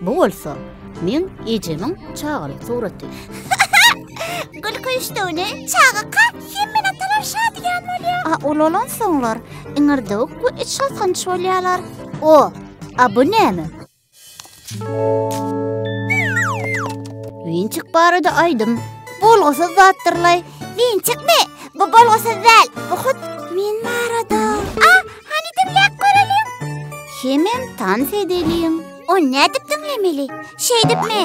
Bu bolsa men ejemiň çagalyk suraty. Gülki üçdügini çagaka hemmen atalar şadyýan bolýar. A ulalan soňlar iňirdewik we iç galkanç bolýarlar. O, a bu näme? Winçik barada aýdym. Bolgusyz zatdyrlaý. Winçikmi? Bu bolgusyz däl. Bu hut men barada. A, Hany diňläp göreliň. Hemem tans edeliň. O nädip diňlemeli? Şeýdipmi?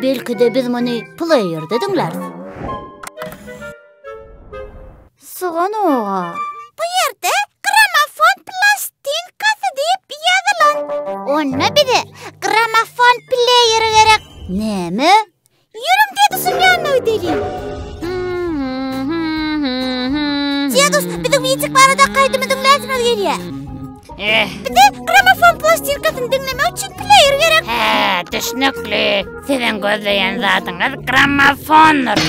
Belki-de biz muny pleýerde diňläris. Sugan oga. Bu ýerde gramofon plastinkasy diýip ýazylan. Onda bize gramofon pleýeri gerek. Näme? Ýörüň dedusyň ýanyna gideliň. Dedus, biziň Witik barada kaýdymy diňläsimiz gelýär. Eh. Bize gramofon plastirkasyny diňlemek üçin pleýer gerek. He, düşnükli. Siziň gözleýän zadyňyz grammofondyr.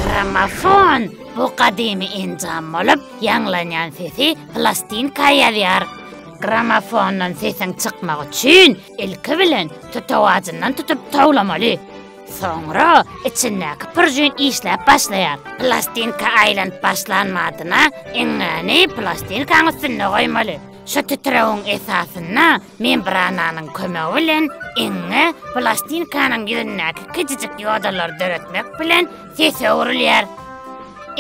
Grammofon bu gadymy enjam bolup, ýaňlanýan sesi plastinka ýazýar. Grammofondan sesiň çykmagy üçin Ilki bilen tutuk ajyndan tutup towlamaly. Soňra içindäki pürjüni işläp başlaýar. Plastinka aýlanyp başlan madyna iňňäni plastinkanyň üstünde goýmaly. Şu titrewiň esasynda membrananyň kömegi bilen iňňe plastinkanyň ýüzündäki kiçijik ýodalary döretmek bilen Ses öwrülýär.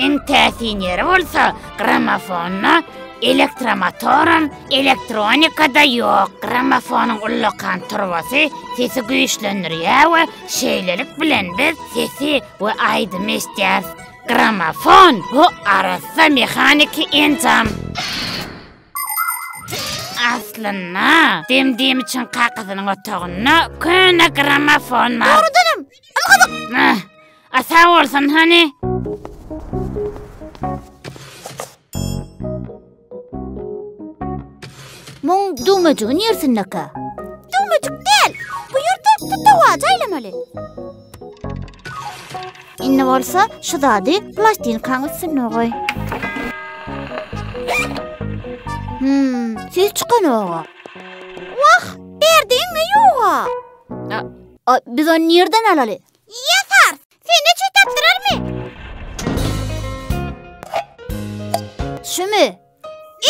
Iň täsin ýeri bolsa gramofonda Elektromotoram, elektronikada ýok. Gramofonyň ullakan turbasy sesi güýçlendirýär we şeýlelik bilen biz sesi we aýdymy eşidýäris. Gramofon bu arassa mehaniki enjam. Aslynda, demdim üçin kakysynyň otagynda köne gramofon bar. Dogrudanam, Nah, a sag bolsun hany. Muň düwmejigi nirsindeka? Düwmejik däl. Bu ýerde tutawaç aýlamaly. Indi bolsa şu zady plastinkaň üstüne goý. Hmm, ses çykanoga. Wah, berdiňmi ýoga? A, biz ony nirden alaly? Ýasar, sende çüý tapdyrarmy? Şümi?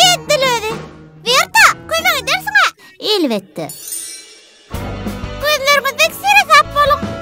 Edil özi. Berta, kömek edersiň-a? Elbetde. Gözlerimizdeki sere sap boluň.